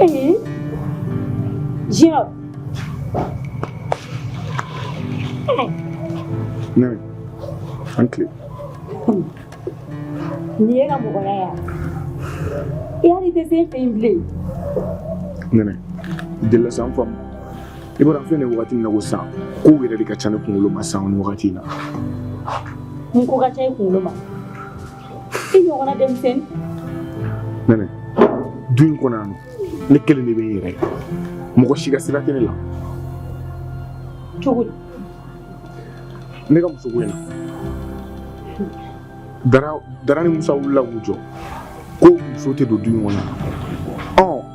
Ee, ya. Ne, a ni tile. Nin ye ka mɔgɔya ya. I hali tɛ se n fɛ yen bilen. Nɛnɛ, i delila sa n faamu. i bɔra filɛ nin wagati in na ko sa kow yɛrɛ de ka ca ne kunkolo ma sa nin wagati in na mun ko ka ca i kunkolo ma i ɲɔgɔnna denmisɛnnin nɛnɛ du in kɔnɔ yan nɔ ne kelen de bɛ n yɛrɛ mɔgɔ si ka sira tɛ ne la cogo di ne ka muso ko in na dara dara ni musa wulila k'u jɔ ko muso tɛ don du in kɔnɔ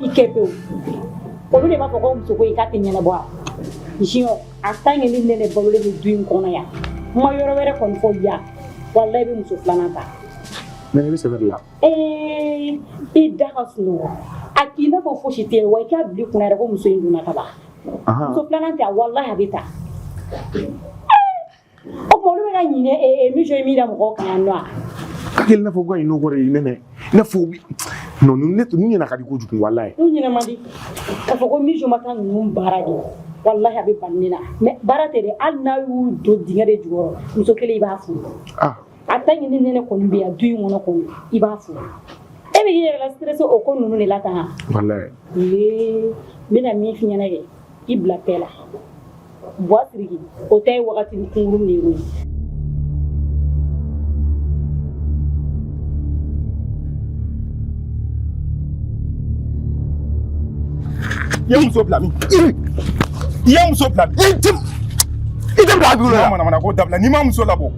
i kɛ pewu olu de b'a fɔ ko muso ko i ka tɛ ɲɛnabɔ a jiyɔ a tant que ni nɛnɛ balolen bɛ du in kɔnɔ yan n ma yɔrɔ wɛrɛ kɔni fɔ yan walahi i bɛ muso filanan ta mais i bɛ sɛbɛ de la ee i da ka sunɔgɔ a k'i n'a fɔ fosi tɛ yen wa i k'a bila i kun na yɛrɛ ko muso in donna ka ban muso filanan tɛ a walahi a bɛ ta O tuma olu bɛ ka ɲinɛ e e mission min da mɔgɔw kan yan nɔ wa ka kɛ i n'a fɔ ko ka ɲinɛ o kɔ de i nɛnɛ i n'a fɔ u bi non ninnu ne ninnu ɲinɛ ka di kojugu walayi n'u ɲinɛ man di k'a fɔ ko mission ma taa ninnu baara de walahi a bɛ ban ne na mais baara tɛ dɛ hali n'a y'u don dingɛ de jukɔrɔ muso kelen i b'a furu ah a tant que ni nɛnɛ kɔni bɛ yan du in kɔnɔ kɔni i b'a furu e bɛ k'i yɛrɛ la stressé o ko ninnu de la tan wa walayi ee n bɛna min f'i ɲɛna dɛ i bila paix la buwa siriki o ta ye wagati kunkurunnin ye i ye n muso bila min i ye n muso bila min i tɛ bila a dugu la manamana ko dabila n'i ma muso labɔ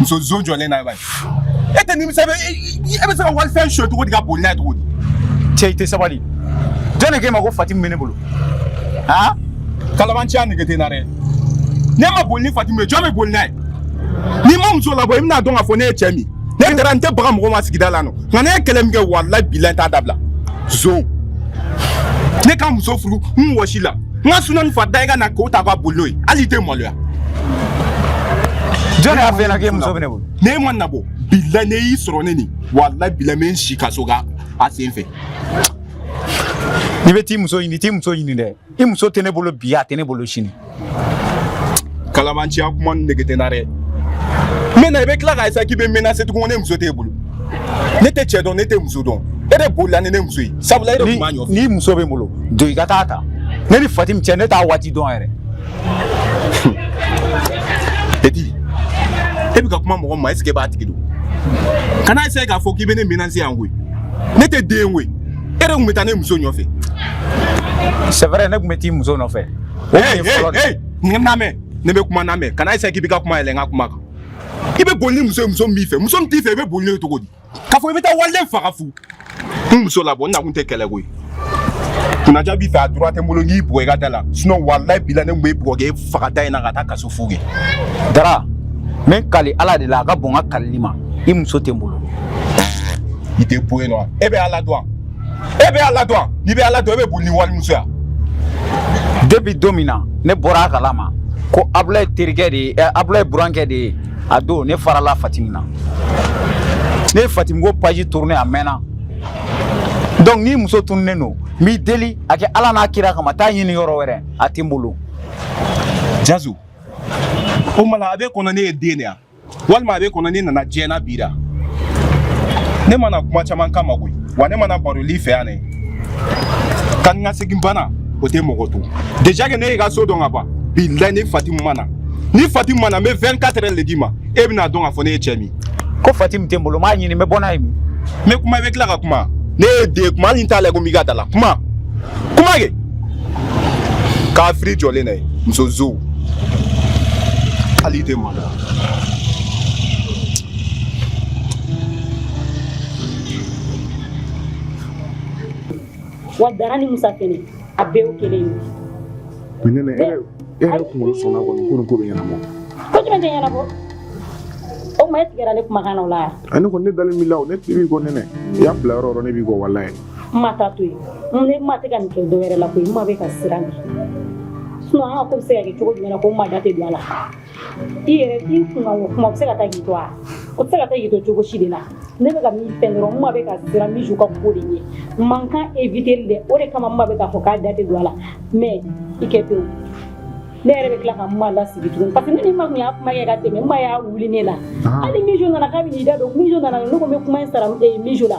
muso zo jɔlen na bani e tɛ nimisa e bɛ se ka walifɛn sɔ cogo di ka boli n'a ye cogo di cɛ i tɛ sabali jɔn de k'e ma ko fatimu bɛ ne bolo han kalabanciya nege tɛ n na dɛ ne ma boli ni fatimu ye jɔn bɛ boli n'a ye n'i ma muso labɔ i bɛn'a dɔn k'a fɔ ne ye cɛ min ne dara n tɛ baga mɔgɔ ma sigida la nɔ nka ne ye kɛlɛ min kɛ walayi bila n t'a dabila zo ne ka muso furu n wɔsi la n ka suna ni farada i ka na k'o ta ka boli n'o ye hali i tɛ maloya jɔn y'a f'i ɲɛna k'e muso bɛ ne bolo n'e ma n'a bɔ bila ne y'i sɔrɔ ne nin walayi bila n bɛ n si kaso k'a sen fɛ n'i bɛ t'i muso ɲini t'i muso ɲini dɛ i muso tɛ ne bolo bi a tɛ ne bolo sini kalabanciya kuma nege tɛ n na dɛ n bɛ na i bɛ tila ka essaye k'i bɛ n menase tugun ko ne muso t'e bolo ne tɛ cɛ dɔn ne tɛ muso dɔn e de bolila ni ne muso ye sabula e de tun b'a nɔfɛ n'i muso bɛ n bolo don i ka t'a ta ne ni fatimi cɛ ne t'a waati dɔn yɛrɛ edi e bɛ ka kuma mɔgɔ ma est ce que e b'a tigi dɔn kana essaye k'a fɔ k'i bɛ ne menase yan koyi ne tɛ den ye koyi e de tun bɛ taa ne muso nɔfɛ c'est vrai ne tun bɛ t'i muso nɔfɛ o tun ye fɔlɔ de ye. n lamɛn ne bɛ kuma n lamɛn kana essaye k'i bɛ ka kuma yɛlɛn n ka kuma kan i bɛ boli ni muso ye muso min b'i fɛ muso min t'i fɛ i bɛ boli n'o ye cogo di k'a fɔ i bɛ taa waliden faga fu n muso labɔ n nakun tɛ kɛlɛ ko ye kunnaja b'i fɛ a droit tɛ n bolo n k'i bugɔ i ka da la sinon walayi bilayi ne tun b'e bugɔ k'e faga da in na ka taa kaso fu kɛ dara n bɛ n kali ala de la a ka bon n ka kalili ma i muso tɛ n bolo i tɛ bɔ yen nɔ e bɛ ala dɔn wa e bɛ ala dɔn wa n'i bɛ ala dɔn e bɛ boli ni walimuso ye wa depuis don min na ne bɔra a kalama ko abulayi terikɛ de ye abulayi burankɛ de ye a don ne farala fatimi na ne ye fatimi ko page tourne a mɛnna donc n'i muso tununen don n b'i deli a kɛ ala n'a kira kama taa ɲini yɔrɔ wɛrɛ a tɛ n bolo jazu o mala a b'i kɔnɔ ne ye den de ye wa walima a b'i kɔnɔ ne nana diɲɛ na bi de ne ma na kuma caman kama koyi wa ne ma na baroli fɛ yan ne ka n ka segin bana o tɛ mɔgɔ to déjà que ne y'i ka so dɔn ka ban bilayi ni fatimu ma na ni fatimu ma na n bɛ 24 heures de d'i ma e bɛna dɔn k'a fɔ ne ye cɛ min ko fatimu tɛ n bolo n b'a ɲini n bɛ bɔ n'a ye min n bɛ kuma i bɛ tila ka kuma ne ye de kuma hali n t'a lajɛ ko n b'i ka da la kuma kuma kɛ k'a firi jɔlen na ye muso zow hali i tɛ ma wa dara ni musa fɛnɛ a bɛɛ y'o kelen ye bi nɛnɛ e yɛrɛ e yɛrɛ kunkolo sɔnna kɔni ko nin ko bɛ ɲɛnabɔ ko jumɛn tɛ ɲɛnabɔ o tuma e tigɛra ne kumakan na o la yan ne kɔni ne dalen b'i la o ne tigi b'i kɔ nɛnɛ i y'a bila yɔrɔ yɔrɔ ne b'i kɔ walayi n ma ta to yen ne ma tɛ ka nin kɛ dɔ wɛrɛ la koyi n ma bɛ ka siran de sinon an ka ko bɛ se ka kɛ cogo jumɛn na ko n ma da tɛ don a la i yɛrɛ i kunkan kuma bɛ se ka taa k'i to a o tɛ se ka taa k'i to cogo si de la ne bɛ ka min fɛn dɔrɔn n ma bɛ ka siran biju ka ko de ɲɛ mankan eviteli de o de kama n ma bɛ k'a fɔ k'a da tɛ don a la mais i kɛ pewu ne yɛrɛ bɛ tila ka n ma lasigi tuguni parce que ne ni ma tun y'a kuma kɛ ka tɛmɛ n ma y'a wuli ne la hali biju nana k'a bɛ n'i da don biju nana ne ko n bɛ kuma in sara biju la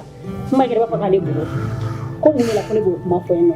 n ma yɛrɛ b'a fɔ k'ale bolo ko mun de la ko ne b'o kuma fɔ yen nɔ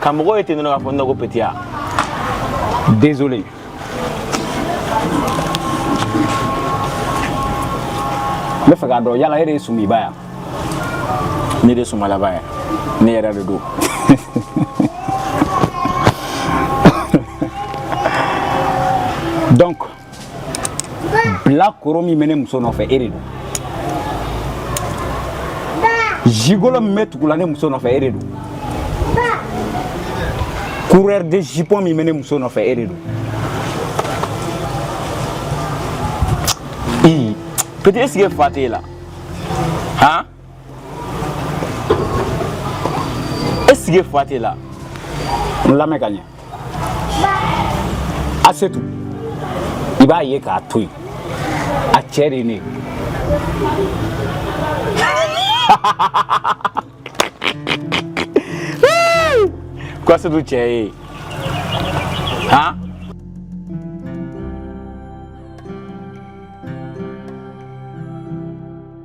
ka mɔgɔ ye ten dɔrɔn k'a fɔ ne ko petit a désolé n b'a fɛ k'a dɔn yala e de ye sumiba yan ne de sumalaba yan ne yɛrɛ de don donc bilakoro min bɛ ne muso nɔfɛ e de don gigolo min bɛ tugula ne muso nɔfɛ e de don coureur de jupon min bɛ ne muso nɔfɛ e de don i petit est ce que fa t'e la han est ce que fa t'e la n lamɛn ka ɲɛ asetu i b'a ye k'a to yen a cɛ de ye ne ye ko asetu cɛ ye han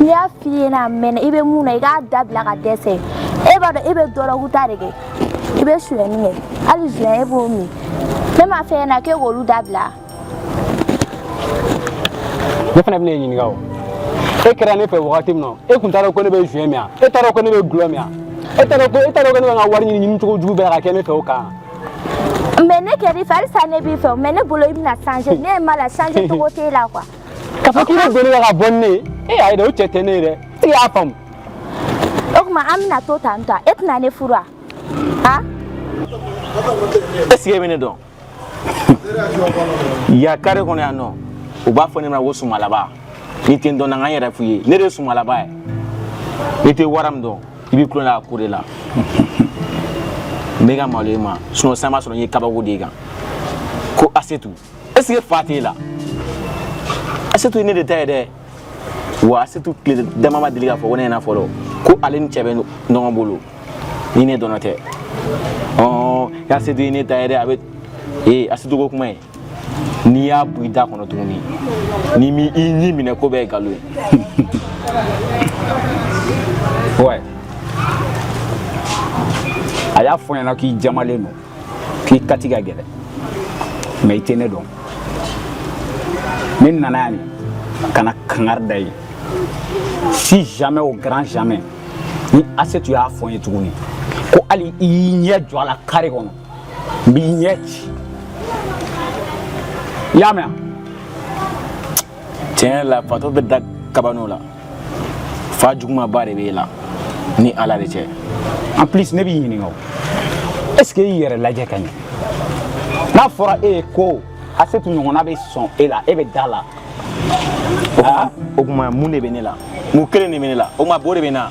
N y'a fɔ i ɲɛna mɛn i bɛ min na i k'a dabila ka dɛsɛ e b'a dɔn e bɛ dɔrɔguta de kɛ i bɛ suyɛni kɛ hali joint e b'o min ne m'a f'e ɲɛna k'e k'olu dabila ne fana bɛna e ɲininka o e kɛra ne fɛ wagati min na e tun t'a dɔn ko ne bɛ joint min yan e t'a dɔn ko ne bɛ gulɔ min yan e t'a dɔn ko e t'a dɔn ko ne bɛ n ka wari ɲini ɲini cogo jugu bɛɛ la ka kɛ ne fɛ o kan mais ne kɛr'i fɛ halisa ne b'i fɛ mais ne bolo i bɛna changer ne ye ma la changer cogo t'e la quoi ka fɔ k'i bɛ don ka bɔ ni ne ye e ayi dɛ o cɛ tɛ ne ye dɛ e y'a faamu o tuma an bɛna to tan tɔ e tɛna ne furu wa a est ce que e bɛ ne dɔn yan carré kɔnɔ yan nɔ u b'a fɔ ne ma ko sumalaba n'i tɛ n dɔn na n ka n yɛrɛ fɔ i ye ne de ye sumalaba ye n'i tɛ wara min dɔn i b'i tulo la ko de la n bɛ ka malo i ma sinon san b'a sɔrɔ n ye kabako da e kan ko asetu est-ce que fa t'e la asetu ye ne de ta ye dɛ wa asetu tile dama ma deli k'a fɔ ko ne ɲɛna fɔlɔ ko ale ni cɛ bɛ ɲɔgɔn bolo ni ne dɔrɔn tɛ ɔɔ asetu ye ne ta ye dɛ a bɛ ee asetu ko kuma ye n'i y'a bɔ i da kɔnɔ tuguni n'i m'i ɲi minɛ ko bɛɛ ye nkalon ye ouais a y'a fɔ n ɲɛna k'i jamalen don k'i kati ka gɛlɛn mais i tɛ ne dɔn ne nana yan de ka na kangari da i ye si jamais au grand jamais ni asetu y'a fɔ n ye tuguni ko hali i y'i ɲɛ jɔ a la carré kɔnɔ n b'i ɲɛ ci i y'a mɛn tiɲɛ la fatɔ bɛ da kabano la fa jugumaba de b'e la ni ala de cɛ en plus ne b'i ɲininka o est ce que i y'i yɛrɛ lajɛ ka ɲɛ n'a fɔra e ye ko asetu ɲɔgɔnna bɛ sɔn e la e bɛ da a la o tuma mun de bɛ ne la mun kelen de bɛ ne la o tuma bo de bɛ n na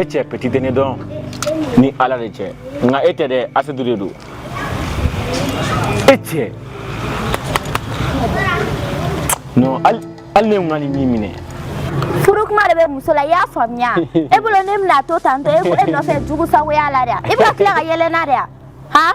e cɛ petit tɛ ne dɔn ni ala de cɛ nka e tɛ dɛ asetu de don e tɛ non hali ne ye n ka nin min minɛ furu kuma de bɛ muso la i y'a faamuya e bolo ne bɛna to tantɔ e nɔfɛ jugu sagoya la dɛ i bɛ ka tila ka yɛlɛ n na dɛ han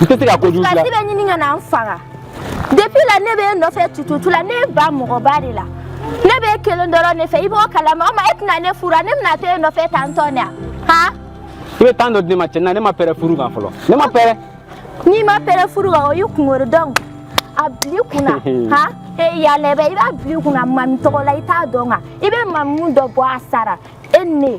n tɛ se ka kojugu dilan. i bɛ ɲini ka na n faga depuis la ne bɛ e nɔfɛ tututu la ne ba mɔgɔba de la ne bɛ e kelen dɔrɔn de fɛ i b'o kalama o ma e tɛna ne furu ne bɛna to e nɔfɛ tan tɔ ne yan han. i bɛ temps dɔ di ne ma cɛ na ne ma pɛrɛ furu kan fɔlɔ ne ma pɛrɛ. n'i ma pɛrɛ furu kan o y'i kunkolo donc a bili kunna han e yalɛbɛ i b'a bili kunna mamu tɔgɔ la i t'a dɔn kan i bɛ mamu dɔ bɔ a sara e ni ne.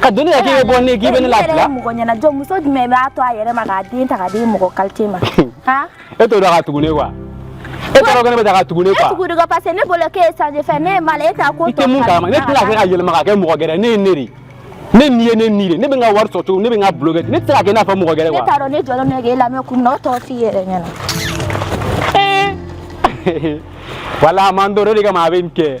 ka doni ka k'i bɛ bɔ ni k'i bɛ ne lafiya mɔgɔ ɲɛna jɔ muso jumɛn b'a to a yɛrɛ ma k'a den ta k'a di mɔgɔ kalite ma e t'o dɔn ka tugu ne quoi e t'a dɔn ko ne bɛ ta ka tugu ne quoi e tugu de ko parce que ne bolo k'e ye sanji fɛn ne ye mal e t'a ko tɔ i tɛ mun kalama ne tɛna kɛ ka yɛlɛma ka kɛ mɔgɔ gɛrɛ ne ye ne de ne ni ye ne ni de ne bɛ n ka wari sɔrɔ cogo ne bɛ n ka boulot kɛ ne tɛ se ka kɛ i n'a fɔ mɔgɔ gɛrɛ quoi ne t'a dɔn ne jɔlen bɛ k'e lamɛn kun na o tɔ f'i yɛrɛ ɲɛna wala a m'a dɔn o de kama a bɛ nin kɛ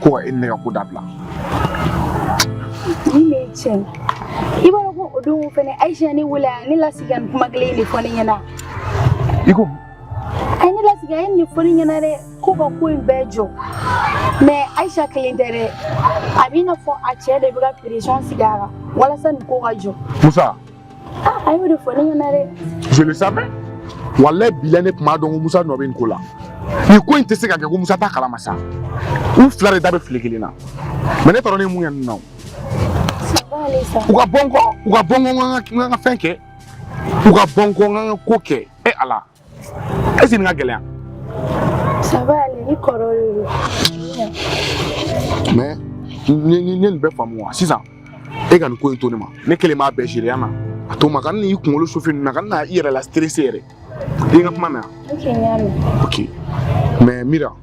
ko ka e ni ne ka ko dabila ni min ye tiɲɛ i b'a dɔn ko o don fɛnɛ ayisa ye ne wele a ye ne lasigi ka nin kuma kelen in de fɔ ne ɲɛna i ko a ye ne lasigi a ye nin de fɔ ne ɲɛna dɛ ko ka ko in bɛɛ jɔ mais ayisa kelen tɛ dɛ a b'i n'a fɔ a cɛ de bɛ ka pression sigi a kan walasa nin ko ka jɔ musa Ah, a y'o de fɔ ne ɲɛna dɛ. je le savais walayi bila ne tun b'a dɔn ko musa nɔ bɛ nin ko la nin ko in tɛ se ka kɛ ko musa t'a kalama sa u fila de da bɛ file kelen na mais ne tɔɔrɔ ne ye mun kɛ ninnu na o. u ka bɔ n kɔ u ka bɔ n kɔ n ka n ka fɛn kɛ u ka bɔ n kɔ n ka n ka ko kɛ e ala. est ce que nin ka gɛlɛya. ça va aller ni kɔrɔ de don. mais n ye nin bɛɛ faamu wa sisan e ka nin ko in to ne ma ne kelen b'a bɛɛ gérer yan na a to n ma kana i kunkolo chauffer nin na kana i yɛrɛ la stresser yɛrɛ i ka kuma mɛn yan. ok n y'a mɛn. ok mɛ mira.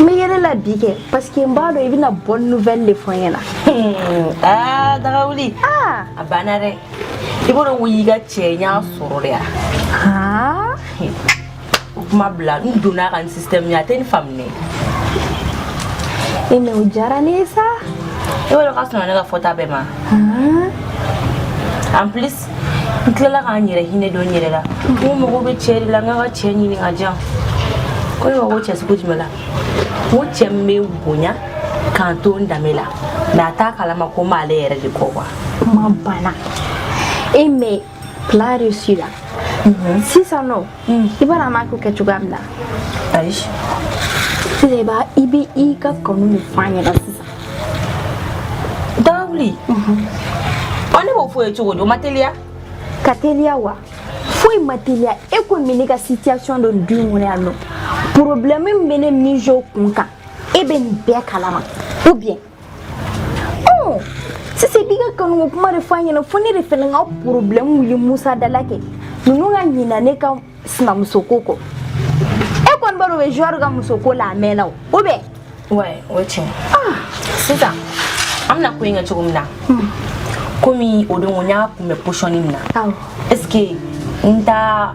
n bɛ yɛlɛ la bi kɛ parce que n b'a dɔn i bɛna bonne nouvelle de fɔ n ɲɛna. aa dagawuli. aa a banna dɛ i b'o dɔn ko y'i ka cɛ n y'a sɔrɔ de ya. aa o kuma bila n donna a kan système a tɛ n faamu dɛ. e mais o diyara ne ye sa. i b'o dɔn k'a sɔnna ne ka fɔta bɛɛ ma. en plus n tilala ka n yɛrɛ hinɛ don n yɛrɛ la ko mago bɛ cɛ de la n k'a ka cɛ ɲini ka jan ko ne ma ko cɛ sugu jumɛn la n ko cɛ min bɛ bonya ka n to n danbe la mais a t'a kalama ko n b'ale yɛrɛ de kɔ quoi kuma banna e mɛ plan réussi la sisan non Mm. I b'a dɔn an b'a ko kɛ cogoya min na. Ayi. Sisan i b'a i bɛ i ka kanu de fɔ a ɲɛna sisan. Dawuli. Ɔ ne b'o fɔ ye cogo di o ma teliya. Ka teliya wa. foyi ma teliya e kɔni bɛ ne ka situation dɔn du in kɔnɔ yan non problème min bɛ ne Mijo kun kan e bɛ nin bɛɛ kalama ou bien Oh, sisan i b'i ka kanuko kuma de fɔ a ɲɛna fo ne de fana ka problème wuli Musa da la kɛ ninnu ka ɲina ne ka sinamuso ko kɔ e kɔni b'a dɔn o bɛ joueur ka muso ko la a mɛnna o ou bien ouais o ye tiɲɛ ah. sisan an bɛna ko in kɛ cogo min na hmm. komi o don ko n y'a kunbɛ position min na est ce que n ta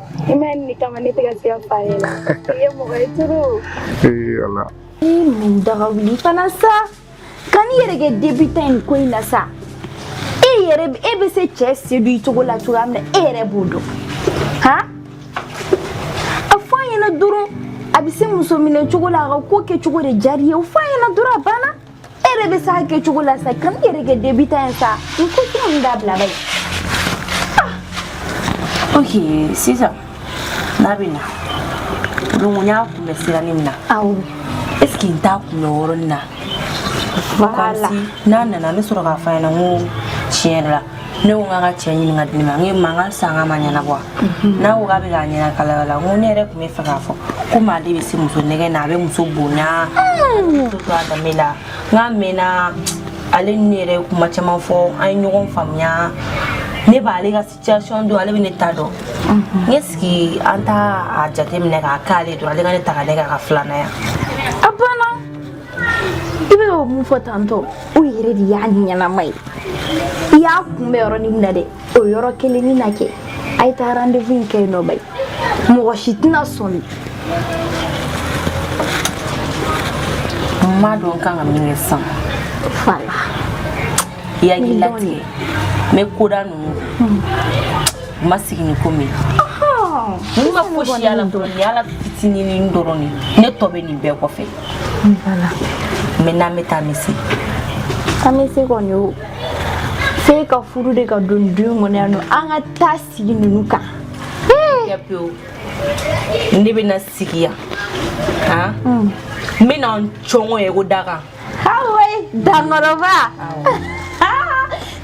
I ma nin kama ne tɛ ka se k'a f'a ye la i ye mɔgɔ tɔɔrɔ ee ala i nin daga wuli fana sa kan'i yɛrɛ kɛ débutant ye ko in na sa e yɛrɛ e bɛ se cɛ séduire cogo la cogoya min na e yɛrɛ b'o dɔn ha a fɔ a ɲɛna dɔrɔn a bɛ se muso minɛ cogo la a ka ko kɛ cogo de diyara i ye o fɔ a ɲɛna dɔrɔn a banna e yɛrɛ bɛ s'a kɛcogo la sa kan'i yɛrɛ kɛ débutant ye sa n ko kuma in dabila bayi ok sisan n'a bɛ na donc n y'a kunbɛ sirani min na awɔ est ce que n t'a kunbɛ o yɔrɔnin na voilà n'a nana n bɛ sɔrɔ k'a fɔ a ɲɛna n ko tiɲɛ yɛrɛ la ne ko k'a ka cɛ ɲini ka di ne ma n ye mankan san ka ma ɲɛnabɔ mhm. n'a ko k'a bɛ k'a ɲɛna kalaya la n ko ne yɛrɛ tun b'a fɛ k'a fɔ ko maa de bɛ se muso nɛgɛn na a bɛ muso bonya mm. to a danbe la n k'a mɛnna ale ni ne yɛrɛ kuma caman fɔ an ye ɲɔgɔn faamuya ne b'ale ka situation dɔn ale bɛ ne ta dɔn mhm. n k'i sigi an t'a jateminɛ k'a k'ale dɔrɔn ale ka ne ta ka ne k'a ka filanan ye a banna i bɛ o mun fɔ tantɔ o yɛrɛ de y'a ɲɛnama ye i y'a kunbɛ yɔrɔnin min na dɛ o yɔrɔ kelennin na kɛ a ye taa rendez-vous in kɛ yen non bayi mɔgɔ si tɛna sɔmi n m'a dɔn n kan ka min kɛ sisan fala i hakili latigɛ n bɛ koda ninnu n ma sigi ni ko min n ma fosi y'a la dɔrɔn ni y'a la fitininini dɔrɔn de ne tɔ bɛ nin bɛɛ kɔfɛ Ni bala. Me na me ta misi. Ka misi ko ni o. Fe ka furu de ka don dun mo ne no an ka ta sigi nunu kan. Ya pew. Ne be na sigi ya. Ha? Mm. Me na chongo e go daga. Ha we dangoroba.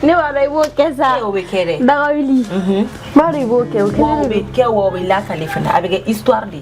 Ne wa rai bo kesa. Ne o be kere. Daga wili. Mhm. Ba rai bo ke o kere. Wo be ke wo be la kale fana. Abege histoire de.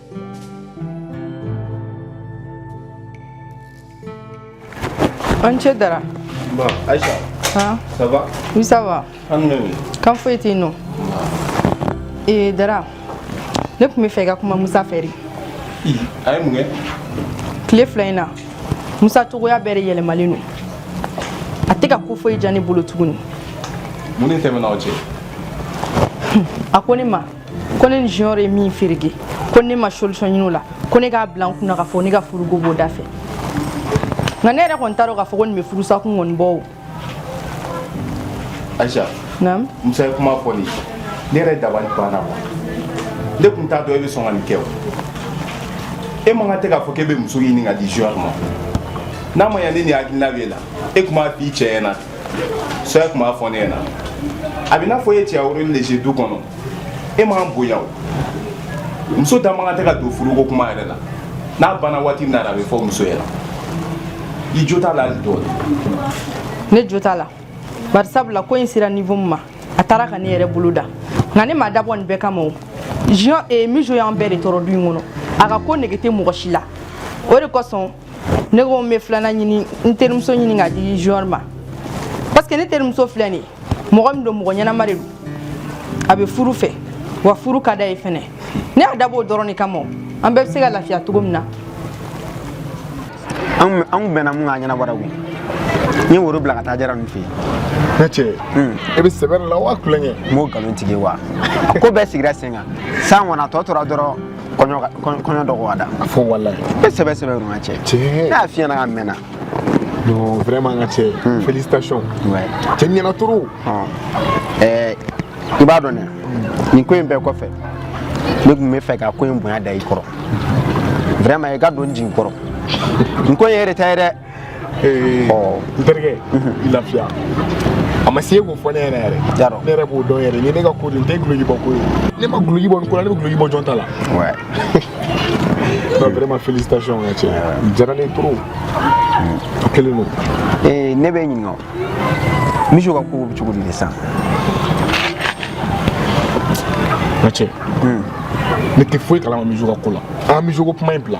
A ni ce dara ça va kan foyi tɛ yen non ee dara ne tun bɛ fɛ i ka kuma musa fɛ a ye mun kɛ tile fila in na musa cogoya bɛɛ de yɛlɛmalen don a tɛ ka ko foyi diya ne bolo tuguni mun de tɛmɛna aw cɛ a ko ne ma ko ne ni junior ye min ferege ko ne ma solution ɲini o la ko ne k'a bila n kunna k'a fɔ ne ka furuko b'o da fɛ nka ne yɛrɛ kɔni t'a dɔn k'a fɔ ko nin bɛ furusa kun kɔni bɔ o ayisa naamu musa ye kuma fɔ nin ne yɛrɛ dabali banna wa ne tun t'a dɔn e bɛ sɔn ka nin kɛ o e man kan tɛ k'a fɔ k'e bɛ muso ɲini ka di junior ma n'a ma ɲa ni nin hakilina b'e la e tun b'a f'i cɛ ɲɛna soit e tun b'a fɔ ne ɲɛna a bɛ n'a fɔ e cɛya rôle joué du kɔnɔ e m'an bonya o muso da man kan tɛ ka don furuko kuma yɛrɛ la n'a banna waati min na a bɛ fɔ muso ɲɛna i jo t'a la hali dɔɔni ne jo t'a la bari sabula ko in sera niveau min ma a taara ka ne yɛrɛ bolo da nka ne ma dabɔ nin bɛɛ kama o jean mijo y'an bɛɛ de tɔɔrɔ du in kɔnɔ a ka ko nege tɛ mɔgɔ si la o de kosɔn ne ko n bɛ filanan ɲini n terimuso ɲini ka di junior ma parce que ne terimuso filɛ nin ye mɔgɔ min don mɔgɔ ɲɛnama de don a bɛ furu fɛ wa furu ka d'a ye fɛnɛ ne y'a dabɔ o dɔrɔn de kama an bɛɛ bɛ se ka lafiya cogo min na an kun bɛnna mun kan a ɲɛnabɔra koyi n ye woro bila ka taa jara ninnu fɛ yen ne cɛ e bɛ sɛbɛ la wa kulonkɛ n b'o nkalon tigɛ wa a ko bɛɛ sigira sen kan san kɔnɔ a tɔ tora dɔrɔn kɔɲɔ dɔgɔ ka da a fɔ walayi e sɛbɛ sɛbɛ yɔrɔ n ka cɛ n y'a f'i ɲɛna ka mɛnna non vraiment n ka cɛ hmm. félicitations cɛ ɲɛna trop ɛɛ i b'a dɔn dɛ nin ko in bɛɛ kɔfɛ ne tun bɛ fɛ ka ko in bonya da i kɔrɔ vraiment i ka don n jigi kɔrɔ n ko in yɛrɛ ta ye dɛ n terikɛ i lafiya a ma se k'o fɔ ne yɛrɛ yɛrɛ ne yɛrɛ b'o dɔn yɛrɛ ni ne ka ko nin tɛ guloki bɔ ko ye ne ma guloki bɔ nin ko la ne bɛ guloki bɔ jɔn ta la non vraiment félicitations n ka cɛ a diyara ne trop a kelen don ne b'i ɲininka mijo ka ko bɛ cogo di de sisan n ka cɛ ne tɛ foyi kalama mijo ka ko la an ka mijo ko kuma in bila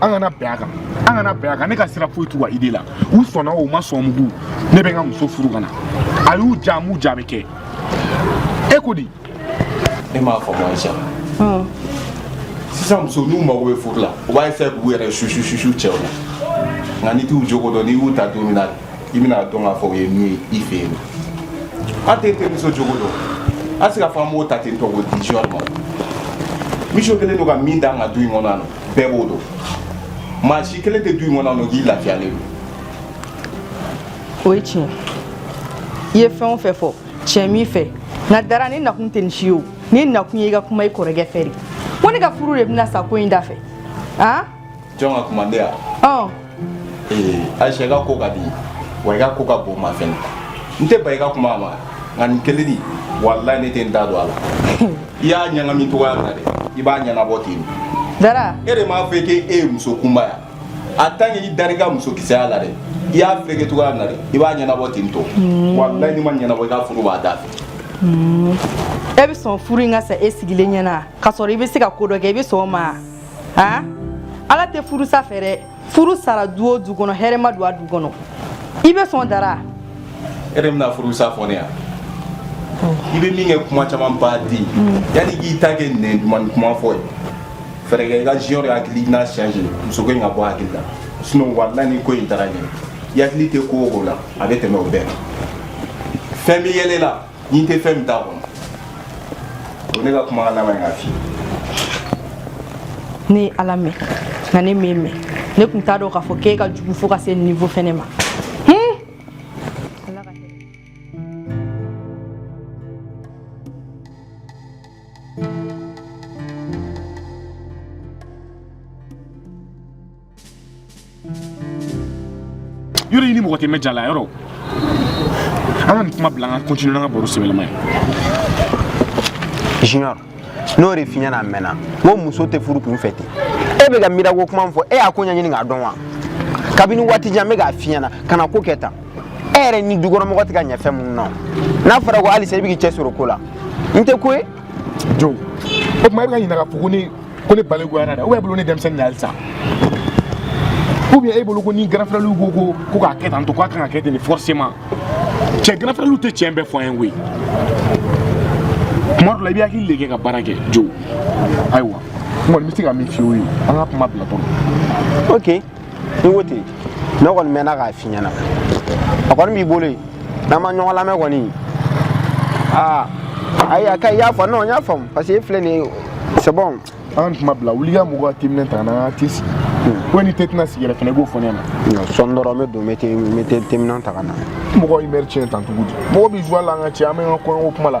an kana bɛn a kan an kana bɛn a kan ne ka sira foyi t'u ka idée la u sɔnna o ma sɔn mugu ne bɛ n ka muso furu ka na a y'u diya m'u diya bɛ kɛ e ko di e m'a faamu Aïcha sisan muso n'u mago bɛ furu la u b'a essayer k'u yɛrɛ susu susu cɛw la nka n'i t'u jogo dɔn n'i y'u ta don min na i bɛna dɔn k'a fɔ o ye min ye i fɛ yen an tɛ terimuso jogo dɔn an se ka fɔ an b'o ta ten tɔ k'o di junior ma Mijo kelen don ka min d'an ka du in kɔnɔ yan nɔ bɛɛ b'o dɔn maa si kelen tɛ du in kɔnɔ yan nɔ k'i lafiyalen don o ye tiɲɛ i ye fɛn o fɛn fɔ tiɲɛ b'i fɛ nka dara ne nakun tɛ nin si ye o ne nakun ye i ka kuma i kɔrɔkɛ fɛ de ko ne ka furu de bɛna sa ko in da fɛ an jɔn ka kuma ne ya ɔn Aïcha i ka ko ka di wa i ka ko ka bon n ma fɛnɛ n tɛ ban i ka kuma ma nka nin kelen di walayi ne tɛ n da don a la i y'a ɲagami cogoya min na dɛ i b'a ɲɛnabɔ ten dara e de m'a fɔ k'e ye muso kunba ye wa tant que i dar'i ka muso kisɛya la dɛ i y'a fɛrɛkɛ cogoya min na dɛ i b'a ɲɛnabɔ ten tɔ walayi n'i m'a ɲɛnabɔ i ka furu b'a da fɛ e bɛ sɔn furu in ka sa e sigilen ɲɛna k'a sɔrɔ i bɛ se ka ko dɔ kɛ i bɛ sɔn o ma aa ala tɛ furusa fɛ dɛ furu sara du o du kɔnɔ hɛrɛ ma don a du kɔnɔ i bɛ sɔn dara e de bɛna furusa fɔ ne yan i bɛ min kɛ kuma caman ba di yanni k'i ta kɛ nɛn dumannin kuma fɔ ye fɛɛrɛ kɛ i ka junior hakilina changer muso ko in ka bɔ hakili la sinon walayi ni ko in taara ɲɛ i hakili tɛ ko o ko la a bɛ tɛmɛ o bɛɛ kan fɛn bɛ yɛlɛ la N'i tɛ fɛn min t'a kɔnɔ o ne ka kuma laban ye k'a f'i ye ne ye ala mɛn nka ne m'e mɛn ne tun t'a dɔn k'a fɔ k'e ka jugu fo ka se niveau fɛnɛ ma yɔrɔ i ni mɔgɔ tɛ mɛn diya la yɔrɔ an ka nin kuma bila an ka continuer n'an ka baro sɛbɛlama ye junior n'o de f'i ɲɛna a mɛnna ko muso tɛ furu kun fɛ ten e bɛ ka Mira ko kuma min fɔ e y'a ko ɲɛɲini k'a dɔn wa kabini waati jan n bɛ k'a f'i ɲɛna kana ko kɛ tan e yɛrɛ ni dukɔnɔmɔgɔ tɛ ka ɲɛ fɛn minnu na n'a fɔra ko halisa i bɛ k'i cɛsiri o ko la n tɛ ko ye jo o tuma e bɛ ka ɲininka k'a fɔ ko ne ko ne balikuyara dɛ ou bien e bolo ne denmisɛnnin de halisa ou bien e bolo ko ni grand frère ko k'a kɛ tan tɔ k'a kan ka kɛ ten de forcément cɛ grand frère tɛ tiɲɛ bɛɛ fɔ an ye koyi kuma dɔ la i b'i hakili de kɛ ka baara kɛ jo ayiwa n kɔni bɛ se ka min f'i ye o ye an ka kuma bila tɔn ok i ko ten ne kɔni mɛnna k'a f'i ɲɛna a kɔni b'i bolo yen n'an ma ɲɔgɔn lamɛn kɔni aa ayi a ka i y'a fɔ non n y'a faamu parce que e filɛ nin ye c'est bon an ka nin kuma bila wuli ka mɔgɔ ka timinɛ ta ka na an ka t'i sigi ko ni tɛ tɛna sigi yɛrɛ fana i b'o fɔ ne ma sɔɔni dɔrɔn n bɛ don n bɛ te- n bɛ te- teminɛn ta ka na mɔgɔ ye mɛri tiɲɛ tan cogo di mɔgɔ bɛ joie la an ka cɛ an bɛ an ka kɔɲɔko kuma la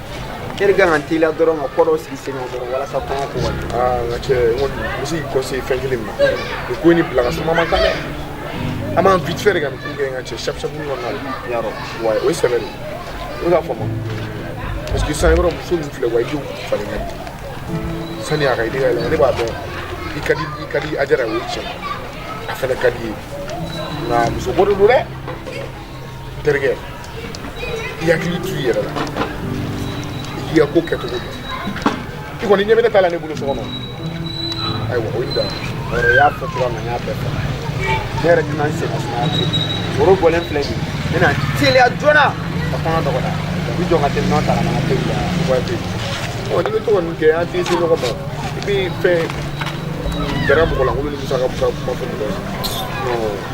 e de ka kan ka teliya dɔrɔn ka ko dɔ sigi sen kan dɔrɔn walasa n ka cɛ n bɛ se k'i conseiller fɛn kelen min na nin ko in bila ka suma man kan dɛ an b'an vite fait de ka ko kɛ n ka cɛ sabu sabu na ya wa o ye sɛbɛ de ye o ka fɔ ma parce que sisan yɔrɔ muso min filɛ wa idée falen ka di sani a ka idée ka yɛlɛma ne b'a dɔn i ka di i ka di Ajara o ye tiɲɛ a fana ka di ye nka muso ko de don dɛ terikɛ i hakili t'i yɛrɛ la i k'i ka ko kɛcogo dɔn i kɔni ɲɛ bɛ ne ta la ne bolo so kɔnɔ ayiwa o ye dan yɔrɔ i y'a fɔ cogoya min na n y'a bɛɛ fɔ ne yɛrɛ tɛna n sen sumaya ten woro bɔlen filɛ nin ye n bɛna teliya joona ka kɔɲɔ dɔgɔda i bɛ jɔ ka teminɛn ta ka na n ka teli la wa tɛ ɔ n'i bɛ to ka nin kɛ an tɛ se ɲɔgɔn ma i bɛ fɛn gɛrɛ mɔgɔ lankolon ni musaka kuma fɔ mɔgɔ ye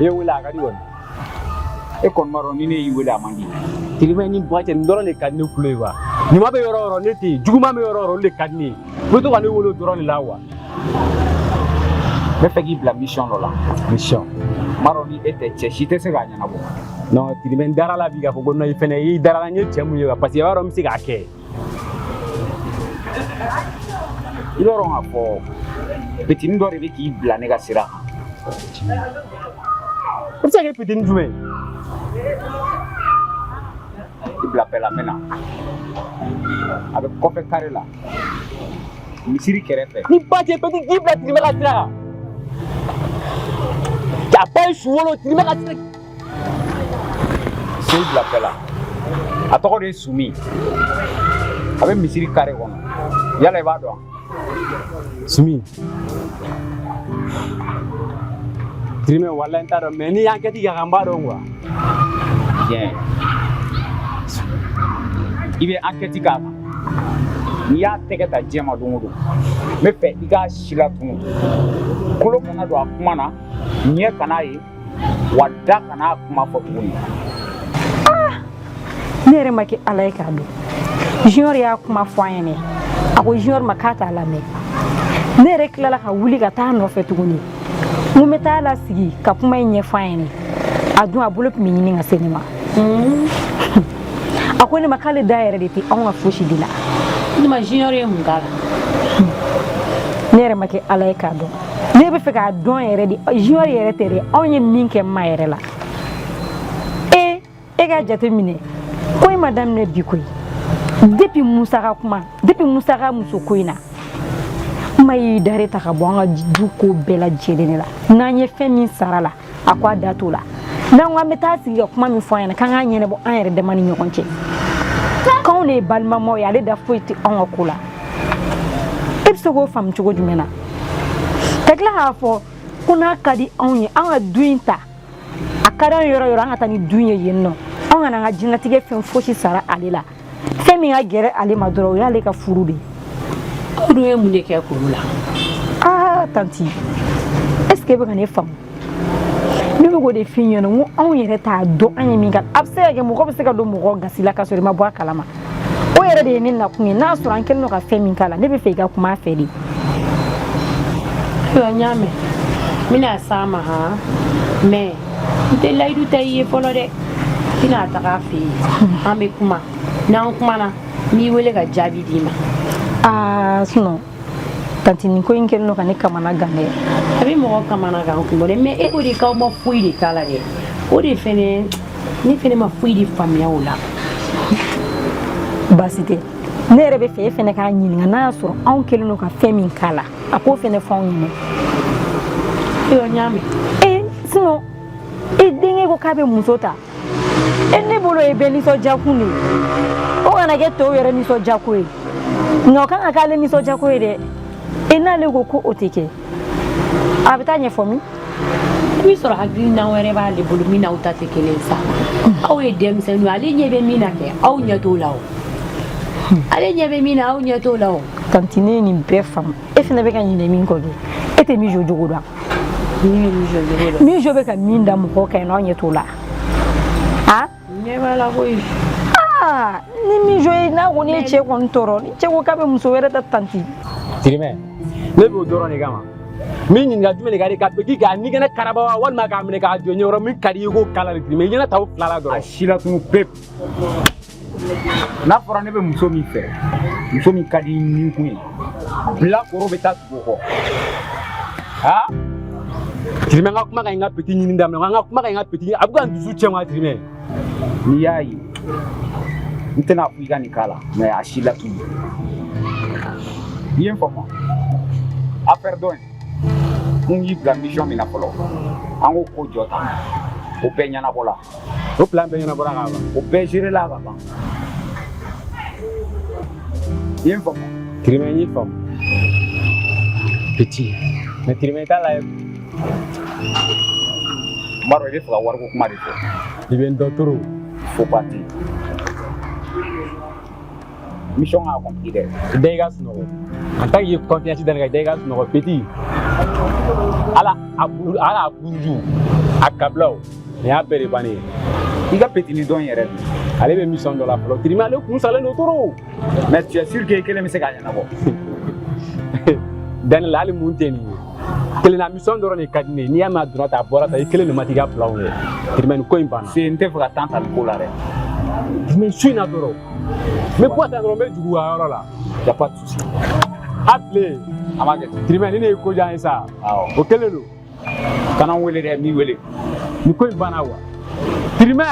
E wele a ka di kɔni e kɔni b'a dɔn ni ne y'i wele a man di tirimɛ ni ba cɛ nin dɔrɔn de ka di ne kulo ye wa ɲuman bɛ yɔrɔ o yɔrɔ ne tɛ yen juguman bɛ yɔrɔ o yɔrɔ olu de ka di ne ye i bɛ to ka ne wele o dɔrɔn de la wa n bɛ fɛ k'i bila mission dɔ la mission n b'a dɔn ni e tɛ cɛ si tɛ se k'a ɲɛnabɔ non tirimɛ n dara la bi k'a fɔ ko non i fɛnɛ i dara la n ye cɛ mun ye wa parce que i b'a dɔn n bɛ se k'a kɛ I b'a dɔn k'a fɔ petinin dɔ de bɛ k'i bila ne ka sira kan se ka kɛ petinin jumɛn i bila paix la n bɛ na a bɛ kɔfɛ kare la misiri kɛrɛfɛ ni ba cɛ bɛɛ k'i bila tirimɛ ka sira kan a ba ye su wolo tirimɛ ka sira sen bila paix la a tɔgɔ de ye sumi a bɛ misiri kare kɔnɔ yala i b'a dɔn sumi tirimɛ walayi n t'a dɔn mais ni n y'ankɛti k'a kan n b'a dɔn quoi bien i bɛ ankɛti k'a kan n'i y'a tɛgɛ ta diɲɛ ma don o don n bɛ fɛ i k'a si latunu kolo kana don a kuma na ɲɛ kan'a ye wa da kan'a kuma fɔ tuguni ah! ne yɛrɛ ma kɛ ala ye k'a dɔn junior y'a kuma fɔ an ɲɛnɛ a ko junior ma k'a t'a lamɛn ne yɛrɛ tilala ka wuli ka taa nɔfɛ tuguni n ko n bɛ t'a lasigi ka kuma in ɲɛfɔ an ɲɛnɛ a dun a bolo tun bɛ ɲini ka se ne ma hmm. a ko ne ma k'ale da yɛrɛ de tɛ anw ka fosi de la ne ma junior ye mun k'a la ne yɛrɛ ma kɛ ala ye k'a dɔn ne bɛ fɛ k'a dɔn yɛrɛ de junior yɛrɛ tɛ dɛ anw ye min kɛ n ma yɛrɛ la e e k'a jate minɛ ko in ma daminɛ bi koyi depuis musa ka kuma depuis musa ka muso ko in na n ma y'i da de ta ka bɔ an ka du ko bɛɛ lajɛlen de la n'an ye fɛn min sara a la a ko a da t'o la n'an ko an bɛ taa sigi ka kuma min fɔ an ɲɛna k'an k'a ɲɛnabɔ an yɛrɛ dama ni ɲɔgɔn cɛ k'anw de ye balimamaw ye ale da foyi tɛ anw ka ko la e bɛ se k'o faamu cogo jumɛn na ka tila k'a fɔ ko n'a ka di anw ye an ka du in ta a ka d'an ye yɔrɔ yɔrɔ an ka taa ni du in ye yen nɔ anw kana an ka diɲɛlatigɛ fɛn fosi sara ale la fɛn min ka gɛlɛn ale ma dɔrɔn o y'ale ka furu de ye aw dun ye mun de kɛ kɔrɔ la aa ah, tanti est ce que e bɛ ka ne faamu ne bɛ k'o de f'i ɲɛna n ko anw yɛrɛ t'a dɔn an ye min kɛ a bɛ se ka kɛ mɔgɔ bɛ se ka don mɔgɔ gasi la k'a sɔrɔ i ma bɔ a kalama o yɛrɛ de ye ne nakun ye n'a sɔrɔ an kɛlen don ka fɛn min k'a la ne bɛ fɛ i ka kuma a fɛ de ayiwa n y'a mɛn n bɛna s'a ma han mais n tɛ layidu ta i ye fɔlɔ dɛ n bɛna taga a fɛ yen an bɛ kuma n'an kumana n b'i wele ka jaabi d'i ma aa ah, sinon tanti nin ko in kɛlen don ka ne kamana gan dɛ a bɛ mɔgɔ kamana gan kun bɔ dɛ mais e ko de k'aw ma foyi de k'a la dɛ o de fɛnɛ ne fɛnɛ ma foyi de faamuya o la baasi tɛ ne yɛrɛ bɛ fɛ e fɛnɛ k'a ɲininka n'a y'a sɔrɔ anw kɛlen don ka fɛn min k'a la a k'o fɛnɛ fɔ anw ɲɛna ayiwa n y'a mɛn ee sinon e denkɛ ko k'a bɛ muso ta e ne bolo o ye bɛɛ nisɔndiyakun de ye o kana kɛ tɔw yɛrɛ nisɔndiyako ye nka o kan ka k'ale nisɔndiyako ye dɛ e n'ale ko ko o tɛ kɛ a bɛ taa ɲɛfɔ min b'a sɔrɔ hakilina wɛrɛ b'ale bolo min n'aw ta tɛ kelen sa aw ye denmisɛnninw ale ɲɛ bɛ min na kɛ aw ɲɛ t'o la o ale ɲɛ bɛ min na aw ɲɛ t'o la o tanti ne ye nin bɛɛ faamu e fana bɛ ka ɲinɛ min kɔ kɛ e tɛ mijo jogo dɔn mijo bɛ ka min da mɔgɔ kan yen nɔ aw ɲɛ t'o la ɲɛ b'a la koyi ah, ni mijo ye n'a kɔni ye cɛ kɔni tɔɔrɔ ni cɛ ko k'a bɛ muso wɛrɛ ta tanti tirimɛ ne b'o dɔrɔn de kama min ɲininka jumɛn de ka di ka bɛki k'a ɲɛgɛnɛ karaba wa walima k'a minɛ k'a jɔ ɲɛ yɔrɔ min ka di i k'o k'a la de tirimɛ i ɲɛna ta o fila la dɔrɔn a silatunu pewu n'a fɔra ne bɛ muso min fɛ muso min ka di ni kun ye bilakoro bɛ taa o kɔ ha tirime an ka kuma kayi an ka petit ɲini daminɛ an ka kuma kayi an ka petit ɲini a bɛ ka n dusu cɛ ma tirime n'i y'a ye n tɛna fɔ i ka nin k'a la mais a silatunu i ye n faamu affaire dɔ in n y'i bila mission min na fɔlɔ an k'o ko jɔ ta o bɛɛ ɲɛnabɔla O plan bɛɛ ɲɛnabɔra ka ban o bɛɛ géréla ka ban i ye n faamu tirimɛ n y'i faamu petit mais tirimɛ t'a la ye n b'a dɔn i bɛ fɛ ka wariko kuma de fɔ i bɛ n dɔn trop faut partir mission ka accompli dɛ bɛɛ ka sunɔgɔ en tant que confiance da ne la bɛɛ ka sunɔgɔ petit ala a bulu ala a buruju a kabilaw nin y'a bɛɛ de bannen ye i ka petini dɔn yɛrɛ ale bɛ mission dɔ la fɔlɔ tirimɛ ale kun salen don trop mais tu es sûr que i kelen bɛ se k'a ɲɛnabɔ da ne la hali mun tɛ nin ye kelenna mission dɔrɔn de ka di ne ye n'i y'a mɛn a donna tan a bɔra tan i kelen don maa t'i ka planw ye tirimɛ ni ko in banna se n tɛ fɛ ka tan ta nin ko la dɛ tirimɛ su in na dɔrɔn Mais ko ta dɔrɔn n bɛ jigin a yɔrɔ la y a pas de souci a bilen a ma kɛ tirimɛ ni ne ye ko diya ye sa o kelen don kana n wele dɛ n b'i wele ni ko in banna wa tirimɛ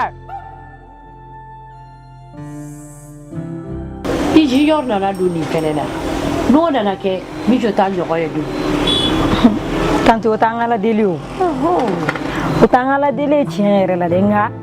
i junior nana don nin kɛnɛ na n'o nana kɛ min jɔ t'a ɲɔgɔn ye don tanti o t'an ka ladeli o o t'an ka ladeli ye tiɲɛ yɛrɛ la dɛ nka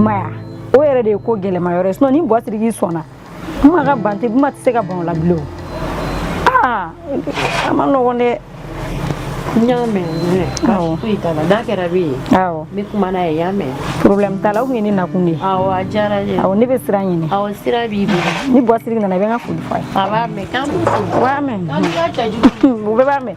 maya o yɛrɛ de ye ko gɛlɛma yɔrɔ ye sinon ni buwa Siriki sɔnna kuma ka ban tɛ kuma tɛ se ka ban o la bilen aa a man nɔgɔn dɛ n y'a mɛn mais baasi foyi t'a la n'a kɛra bɛ ye awɔ n bɛ kuma n'a ye y'a mɛn problème t'a la o tun ye ne nakun de ye awɔ a diyara n ye awɔ ne bɛ sira ɲini awɔ sira b'i bolo ni buwa Siriki nana i bɛ n ka foli fɔ a ye a b'a mɛn k'an b'u fo u b'a mɛn k'an b'i ka cɛ jugu o bɛɛ b'a mɛn